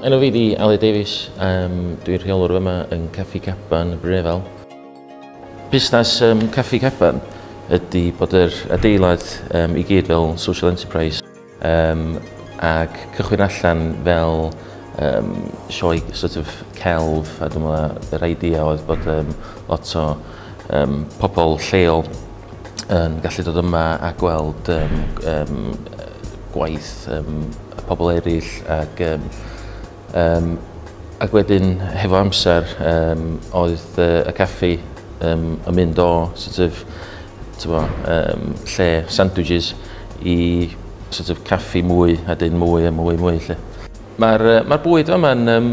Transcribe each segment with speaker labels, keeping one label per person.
Speaker 1: Enw fi di Ali Davies, um, dwi'n rheolwr yma yn Caffi Caban, Brunefel. Busnes um, Caffi Caban ydy bod yr adeilad um, i gyd fel social enterprise um, ac cychwyn allan fel um, sioe sort of celf a dwi'n meddwl yr idea oedd bod um, lot o um, pobl lleol yn gallu dod yma a gweld um, um, gwaith um, y pobl eraill ac, um, um, ac wedyn hefo amser um, oedd uh, y caffi um, yn mynd o sort of, tyfo, um, lle sandwiches i sort of caffi mwy a dyn mwy a mwy a mwy lle. Mae'r uh, ma bwyd yma'n um,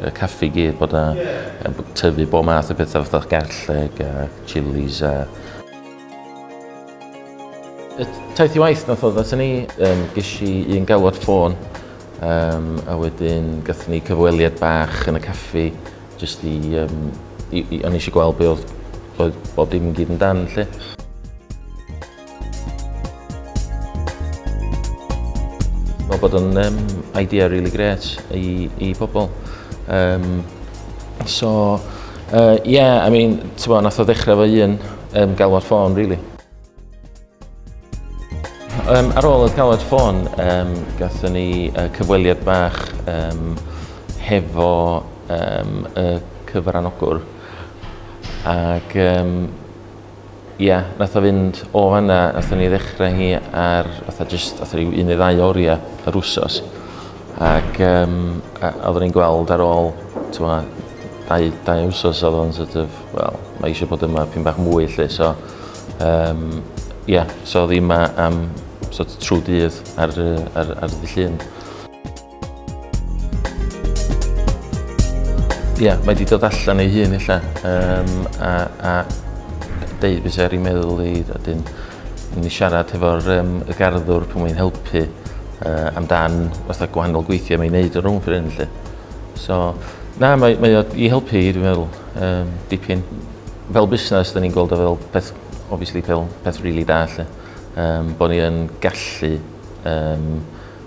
Speaker 1: y caffi i gyd bod a tyfu bob math o bethau fatha garlleg a chilies a Y taith i waith nath oedd atyn ni, um, ges i un galwad ffôn um, a wedyn gathon ni cyfweliad bach yn y caffi jyst i, um, i, i o'n eisiau gweld be oedd, oedd bob dim yn gyd yn dan lle. Mae bod yn um, idea really great i, i pobl. Um, so, uh, yeah, I mean, ti'n bod, nath o ddechrau fo un um, galwad ffôn, really. Um, ar ôl y galwad ffôn, um, gatho ni uh, cyfweliad bach um, hefo um, y cyfranogwr. Ac um, Ia, nath o fynd o fanna, nathon ni ddechra hi ar fatha jyst fatha ryw un neu ddau oria yr wsos. Ac yym a oeddwn i'n gweld ar ôl t'mo' dau dau wsos odd o'n sort of wel mae eisiau bod yma pyn bach mwy 'lly so yym ia so odd 'i 'ma am sort of trw dydd ar yy ar ar ddy' Llun. Ia, mae wedi dod allan ei hun illa, um, a, a deud beth sy'n ar ei meddwl i, a dyn, ni'n siarad hefo'r um, y garddwr pan mae'n helpu uh, amdan fatha gwahanol gweithiau mae'n neud o'r rhwng ffrin, lle. So, na, mae, mae o i helpu i, dwi'n meddwl, um, dipyn. Fel busnes, da ni'n gweld o fel peth, obviously, fel peth rili really da, lle. Um, bod ni yn gallu um,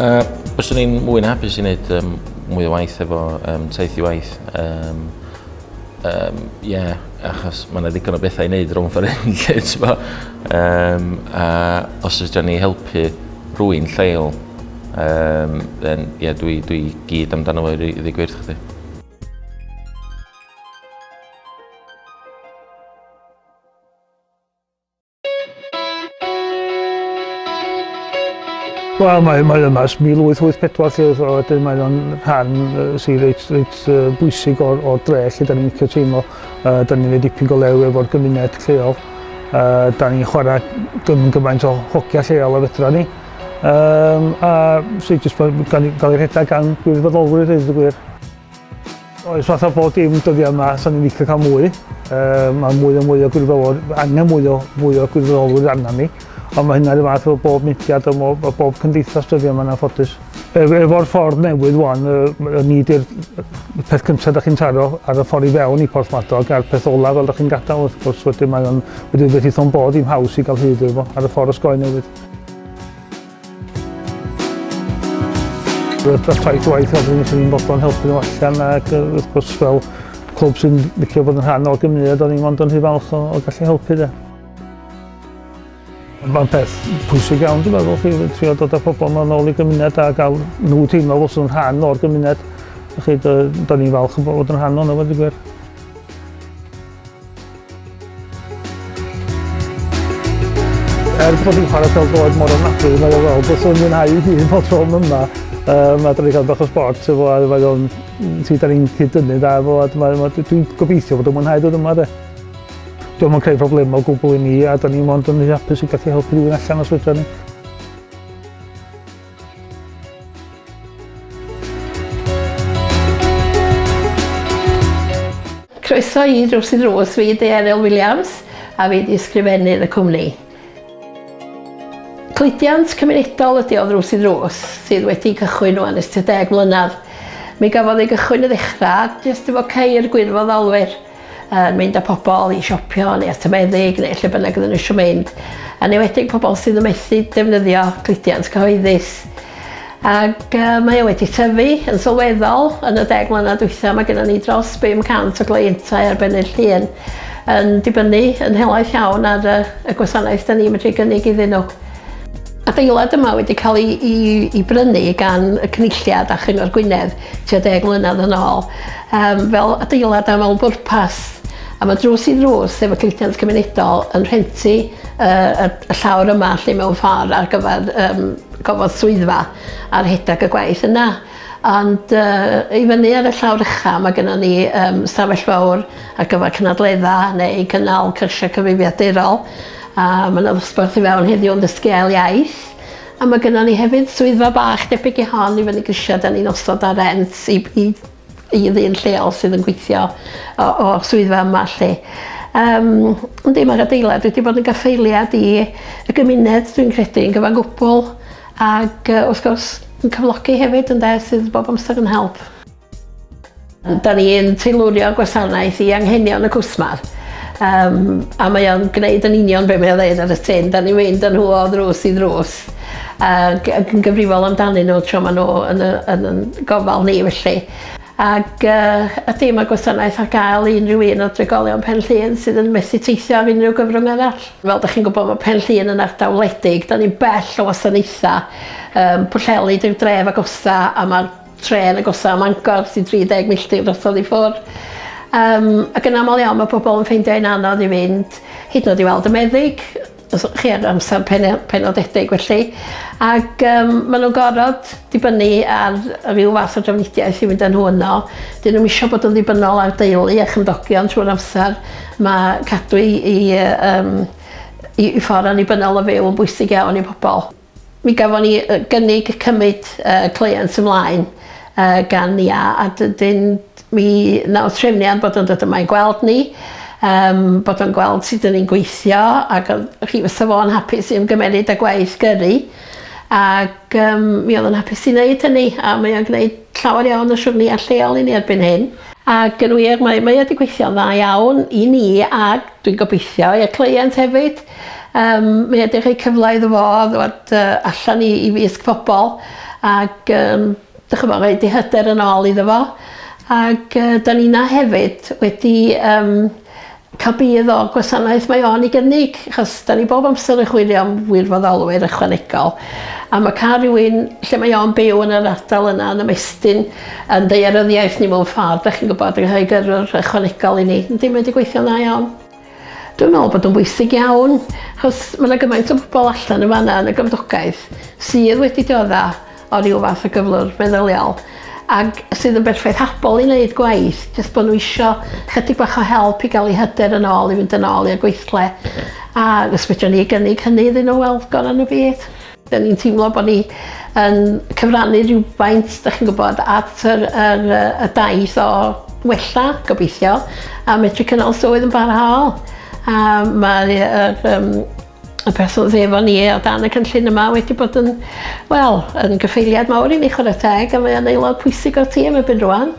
Speaker 1: Uh, Byswn i'n mwy na hapus i wneud um, mwy o waith efo um, taith i waith. Um, um, yeah, achos mae yna ddigon o bethau i wneud rhwng ffordd hyn, lle, ti'n bo. Um, a os ydyn ni helpu rwy'n lleol, um, then, yeah, dwi, dwi gyd amdano fo i ddigwyrth chdi.
Speaker 2: Wel, mae, mae yma ys 1884 lle oedd wedyn mae o'n rhan sy'n reit, reit uh, bwysig o'r, or dre lle da ni'n licio teimlo. Uh, da ni'n ei dipyn go lew efo'r gymuned lleol. Uh, da ni'n chwarae gym gymaint o hogia lleol a fedra ni. Um, a sy'n jyst gael ei rhedeg gan gwirfoddolwyr, dweud y gwir. Oes, fatha bod dim dyddiau yma, sa'n ni'n licio cael mwy. Um, mae mwy o mwy o gwirfoddolwyr, angen mwy o fwy o gwirfoddolwyr arna ni. Ond mae hynna rhyw fath o bob mudiad o bob, o bob cymdeithas dyddiau yma na'n ffodus. E, efo'r ffordd newydd wan, y ni di'r peth cyntaf da chi'n taro ar y ffordd i fewn i Port Madog a'r peth olaf fel da chi'n gadael wrth gwrs wedyn mae o'n wedi rhywbeth eitho'n bod i'n haws i gael hyd efo ar y ffordd osgoi newydd. Roedd dros taith waith oedd yn sy'n fodlon helpu nhw allan ac wrth gwrs fel clwb sy'n licio bod yn rhan o'r gymuned o'n i'n mond yn rhy falch o, o gallu helpu de. Mae'n peth pwysig iawn, dwi'n meddwl, chi trio dod â pobl yma nôl i gymuned a gael nhw teimlo fod yn rhan o'r gymuned. Felly, da ni'n falch bod yn rhan o'n yma, dwi'n gwir. Er bod fi'n chwarae fel bod mor ofnadwy yn ôl fel, beth o'n mwynhau i hun bod o'n yma. Um, a dyn ni cael bach o sport, so fo, a mae o'n, ti da ni'n cyd-dynnu da fo, a dwi'n gobeithio bod o'n mwynhau dod yma de. Dwi'n mwyn creu problem o gwbl i ni, a da ni'n mwyn dyn ni'n hapus i gallu helpu rhywun allan os fydra ni.
Speaker 3: Croeso i Drws i Drws, fi ydy Eryl Williams a fi ydy ysgrifennydd y cwmni. Cludiant cymunedol ydy o Drws i Drws sydd wedi cychwyn o'n ys 30 mlynedd. Mi gafodd ei gychwyn y ddechrau jyst efo ceir gwirfoddolwyr yn mynd â pobl i siopio neu at y meddyg neu lle bynnag oedden nhw eisiau mynd, yn enwedig pobl sydd yn methu defnyddio cludiant cyhoeddus. Ac uh, mae o wedi tyfu yn sylweddol yn y deg mlynedd dwytha, mae gennym ni dros 500 o gleientau ar bennu'r llun yn dibynnu yn helaeth iawn ar y gwasanaeth da ni'n medru gynnig iddyn nhw. Adeilad yma wedi cael ei, i, i brynu gan y Cynulliad a Chyngor Gwynedd tua deg mlynedd yn ôl um, fel adeilad am mewn bwrpas a mae drws i ddrws efo cludiant cymunedol yn rhenti uh, y, y llawr yma lle mewn ffordd ar gyfer um, gofod swyddfa a rhedeg y gwaith yna. Ond uh, i fyny ar y llawr ucha mae gennym ni um, stafell fawr ar gyfer cynadledda neu gynnal cyrsiau cyfrifiadurol A ma' 'na ddosbarth i fewn heddiw yn dysgu ail iaith. A ma' gynnon ni hefyd swyddfa bach debyg i hon i fyny grisia 'dan ni'n osod ar rent i i i ddyn lleol sydd yn gweithio o o swyddfa yma 'lly. Yym yndi ma'r adeilad wedi bod yn gaffaeliad i y gymuned dwi'n credu yn gyfan gwbwl ag yy wrth gwrs yn cyflogi hefyd ynde sydd bob amser yn help. Da ni'n teilwrio gwasanaeth i anghenion y cwsmer um, a mae o'n gwneud yn union be mae o'n dweud ar y tin. Da ni'n mynd yn nhw o ddrws i ddrws ac yn gyfrifol amdanyn nhw tro maen nhw yn, yn, yn gofal ni felly. Ac uh, ydy mae gwasanaeth ar gael i unrhyw un o drigolion Pen Llun sydd yn methu teithio ar unrhyw gyfrwng arall. Fel da chi'n gwybod mae Pen Llun yn ardal wledig, da ni'n bell o wasanaethau um, pwllheli, dyw dref agosa a mae'r Trên agosa Mangor sy'n 30 milltir drosodd i ffwrdd yym ac yn aml iawn mae pobl yn ffeindio hi'n anodd i fynd hyd yn oed i weld y meddyg os o'ch chi ar amser pene- penodedig felly ac yym ma' nw'n gorod dibynnu ar ryw fath o drafnidiaeth i fynd â nhw yno 'dyn nw'm isio bod yn ddibynnol ar deulu a chymdogion trwy'r amser ma' cadw 'u 'u yym 'u 'u ffor annibynnol o fyw yn bwysig iawn i pobol. Mi gafon ni gynnig cymyd y cleient ymlaen gan Nia a dydyn mi naw trefniant bod o'n dod yma i gweld ni yym bod o'n gweld sud 'dyn ni'n gweithio ag o'dd hi fysa fo'n hapus i ymgymeryd â gwaith gyrru ag yym mi o'dd o'n hapus i neud hynny a mae o'n gneud llawer iawn o siwrneia lleol i ni erbyn hyn ag yn wir mae mae o 'di gweithio'n dda iawn i ni ag dwi'n gobeithio i'r cleient hefyd. Yym mae o 'di rhoi cyfla iddo fo ddod yy allan i i wisg pobol ag yym 'dych ch'mo' roid 'i hyder yn ôl iddo fo ag yy 'dan ninna hefyd wedi yym ca'l budd o'r gwasanaeth mae o'n 'i gynnig achos 'dan ni bob amser yn chwilio am wirfoddolwyr ychwanegol a ma' ca'l rywun lle mae o'n byw yn yr ardal yna yn ymestyn yn ddaearyddiaeth ni mewn ffor 'dach chi'n gwbod yn rhoi gyrrwr ychwanegol i ni yndi mae 'di gweithio'n dda iawn. Dwi'n me'wl bod o'n bwysig iawn 'chos ma' 'na gymaint o bobol allan yn fan 'na yn y gymdogaeth sydd wedi diodda' o ryw fath o gyflwr meddyliol ag sydd yn berffaith habol i neud gwaith jyst bo' n'w isio chydig bach o help i ga'l 'u hyder yn ôl i fynd yn ôl i'r gweithle a os fedran ni gynnig hynny iddyn n'w wel gora' n'w byd. 'Da ni'n teimlo bod ni yn cyfrannu rhywfaint, dach chi'n gwybod, at yr, yr, y daith o wella, gobeithio, a medru cynnal swydd yn barhaol. A mae yr, um, y person dde efo ni o dan y cynllun yma wedi bod yn, wel, yn gyffeiliad mawr i ni chwarae teg, a mae'n aelod pwysig o'r tîm ebyn rwan.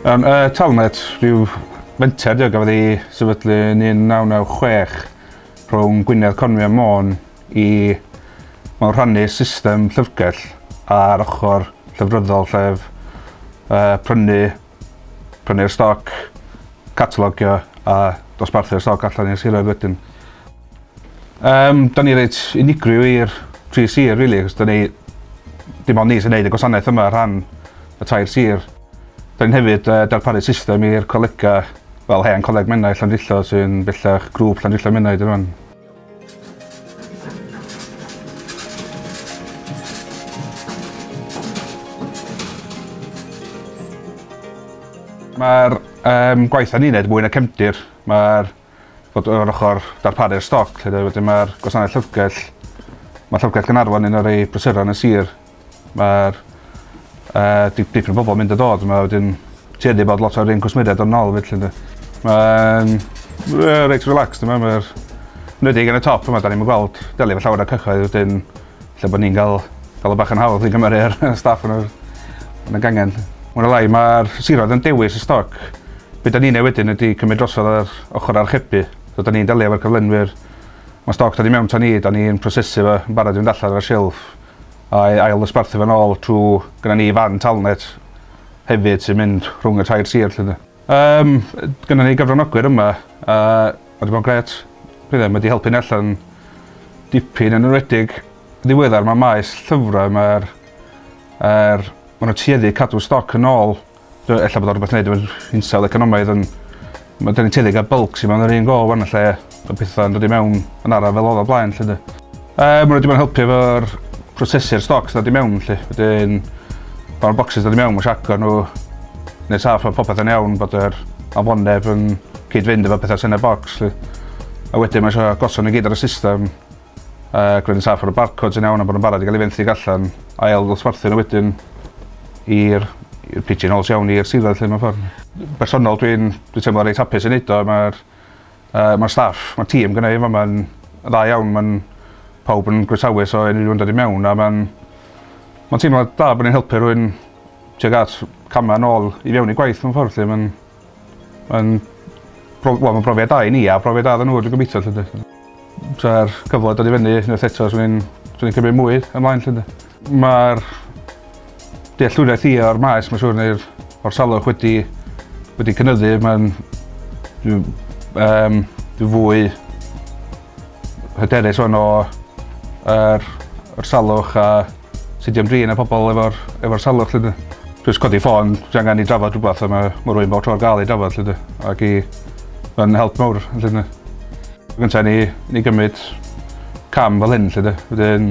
Speaker 4: Um, uh, Talnet, rhyw fenter diog gafodd ei sefydlu yn 1996 rhwng Gwynedd Conwy a Môn i mewn rhannu system llyfrgell ar ochr llyfryddol llef uh, prynu prynu'r stoc, catalogio a dosbarthu'r stoc allan i'r siroedd wedyn. Yym, da ni reit unigryw i'r tri sir rili, achos da ni... dim ond ni sy'n neud y gwasanaeth yma ar rhan y tair sir. Da ni'n hefyd yy darparu system i'r colega fel hen coleg Menai Llandrillo sy'n bellach grŵp Llandrillo Menai 'di rŵan. Mae'r um, gwaith ni'n neud mwy na cefndir. Mae'r fod o'r ochr darparu'r stoc, lle wedyn mae'r gwasanaeth llyfrgell, mae llyfrgell Gynarfon yn o'r ei brysuron y sir, Ma'r yy di- dipyn o bobol mynd a dod yma wedyn ti wedi bod lot o'r un cwsmeriaid yn ôl felly ynde? Ma'n we- reit relaxed yma ma'r 'nwedig yn y top yma 'dan ni'm yn gweld deli efo llawer o cyhoedd wedyn lle bo' ni'n ga'l ga'l o bach yn hawdd i gymeru a'r y staff yn yr yn y gangen 'lly. Mwy ne' lai ma'r siroedd yn dewis y stoc. Be' 'dan ni'n neu' wedyn ydi cymryd drosodd yr ochor archebu. So 'dan ni'n delio efo'r cyflenwyr. Ma' stoc dod i mewn 'to ni 'dan ni'n prosesu fo yn barod i fynd allan ar y silff. a'i ail-ddosbarthu fe'n ôl trw gynna ni fan Talnet hefyd sy'n mynd rhwng y tair sir 'lly 'de. Yym gynna ni gyfranogwyr yma a ma' 'di bod yn grêt dwi ddim wedi helpu ni allan dipyn yn enwedig ddiweddar ma' maes llyfrau ma'r yr ma' nw tueddu i cadw stoc yn ôl Dw- ella bod o rwbeth neud efo'r hinsawdd economaidd on' ma' 'da ni'n tueddu i ga'l bylcs i mewn yr un go ŵan lle ma' petha'n dod i mewn yn araf fel odd o blaen 'lly 'de? Yy ma' n'w 'di bod yn helpu efo'r prosesu'r stoc sy ddod i mewn 'lly wedyn pan ma'r bocsys dod i mewn ma' isio agor n'w neud saff ma' popeth yn iawn bod yr afonydd yn cyd-fynd efo petha sy yn y bocs 'lly a wedyn ma' isio gosod n'w gyd ar y system Yy gwneud yn saff bod y barcods yn iawn a bod nw'n barod i ga'l 'u fenthyg allan ail ddosbarthu n'w wedyn i'r i'r pigeon holes iawn i'r siroedd 'lly mewn ffor. Bersonol dwi'n dwi'n teimlo reit hapus i neud o ma'r yy ma'r staff ma'r tîm gynna' i yn fama'n yn dda iawn ma'n pawb yn groesawus o unrhyw un dod i mewn a ma'n ma'n teimlo da bo' ni'n helpu rywun tuag at cama' nôl i fewn i gwaith mewn ffor 'lly ma'n Ma'n pro- wel ma'n brofiad da i ni a profiad da iddyn n'w dwi gobeithio 'lly 'de. Sa'r cyfle dod i fyny unwaith eto swn i'n swn i'n cymryd mwy ymlaen 'lly 'de. Ma'r dealltwriaeth i o'r maes ma' siŵr neu'r o'r salwch wedi wedi cynyddu ma'n dwi yym dwi fwy hyderus ŵan o yr yr salwch a Tydi o'm drin ar pobl efo'r efo'r salwch 'lly 'de. Jyst codi ffôn, ti angen i drafod rhywbeth a ma' ma' rywun bob tro ar ga'l i drafod 'lly 'de. Ac i... Ma'n help mowr felly ynde? Yn gynta' i ni ni gymryd cam fel hyn 'lly 'de wedyn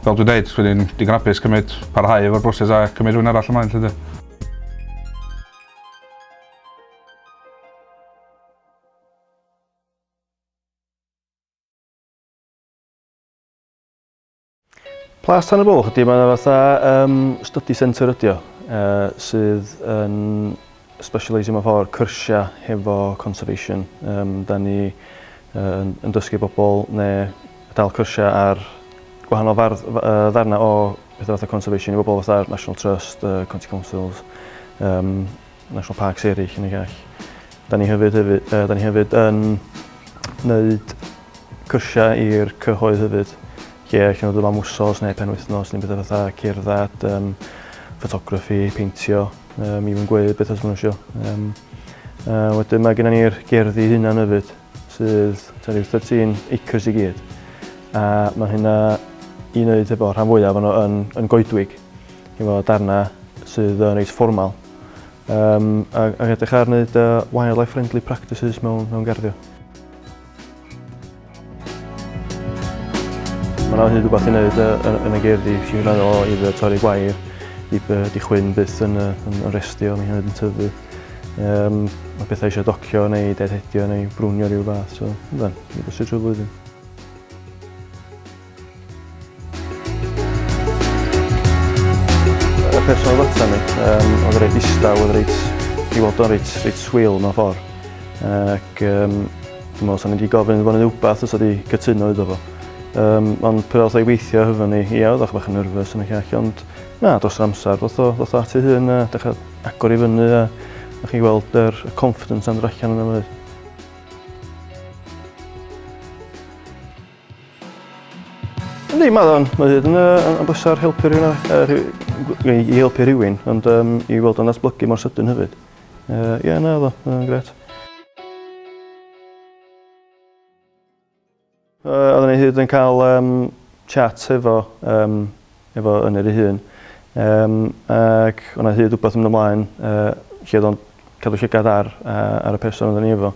Speaker 4: fel dwi'n deud dwi ddim digon apus cymryd... Parhau efo'r broses a cymryd rhywun arall ymlaen 'lly 'de.
Speaker 5: Plas Tan y Bwlch ydy, mae'n fatha um, study centre ydy o, uh, sydd yn specialisio mewn ffordd cyrsiau hefo conservation. Um, da ni uh, yn dysgu bobl neu dal cyrsiau ar gwahanol fardd, uh, ddarna o bethau fatha conservation i bobl fatha National Trust, uh, County Councils, um, national parks eraill yn y gell. Da ni hefyd, hefyd, uh, da ni hefyd yn wneud cyrsiau i'r cyhoedd hefyd, lle allan nhw dod am wsos neu penwythnos neu bethau fatha cerdded, um, ffotograffi, peintio, um, i fi'n gweud beth os maen nhw eisiau. Um, uh, wedyn mae gennym ni'r gerddi hunan hefyd, sydd ta rhyw 13 acres i gyd. A mae hynna i wneud efo rhan fwyaf o'n yn, yn goedwig, efo darna sydd yn reit fformal. um, a, a edrych ar wneud uh, wildlife friendly practices mewn, mewn garddio. Mae yna hyd rhywbeth i wneud uh, yn y gerddi, sy'n rhan o i fe torri gwair, i be di chwyn byth yn, uh, yn, yn restio, mae hynny'n tyfu. Um, mae pethau eisiau docio neu deadhedio neu brwnio rhyw fath, so, ydyn, ni bwysig trwy flwyddyn. Y person oedd ata ni, um, oedd yn reit ddistaw, oedd reit, i weld o'n reit, reit swil mewn ffordd. Ac um, dwi'n meddwl, sa'n wedi gofyn iddo fo rhywbeth os oedd wedi cytuno iddo fo. Um, ond pryd oedd ei weithio hyfo ni, ia, oedd o'ch bach yn nerfus yn y llall, ond na, dros yr amser, ddoth o, ddoth o ati hyn a dechrau agor i fyny a o'ch chi weld yr er confidence yn allan yna fyd. Yndi, mae o'n mae o'n yn bwysau helpu rhywun, uh, i helpu rhywun, ond um, i weld o'n datblygu mor sydyn hefyd. Ie, uh, yeah, na, oedd o'n gret. Uh, oedden ni hyd yn cael um, chat hefo um, efo Ynyr ei hun. Yym ac o' 'na hyd wbath yn mynd ymlaen yy lle o'dd o'n cadw llygad ar yy ar y person odden ni efo.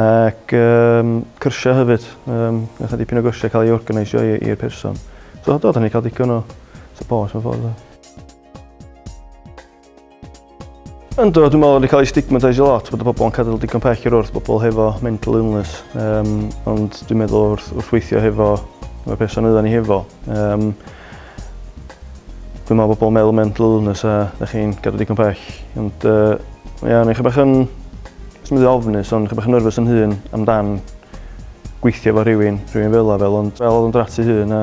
Speaker 5: Ac yym cyrsia hefyd yym nath 'na dipyn o gyrsia ca'l ei organaisio i i'r person. So do 'dan ni 'di ca'l digon o support mewn ffordd do? Ynddo, dwi'n meddwl wedi cael ei stigmateisio lot bod y pobl yn cadw digon pell i'r wrth bobl hefo mental illness. Um, ond dwi'n meddwl wrth, wrth weithio hefo y person oedden ni hefo. Um, dwi'n meddwl bobl meddwl mental illness a da chi'n gadw digon pell. Ond uh, ia, neu chi bach yn, os mynd i ofnus, ond chi bach yn nerfus yn hun amdan gweithio fo rhywun, rhywun fel fel, ond fel oedd yn drati hun a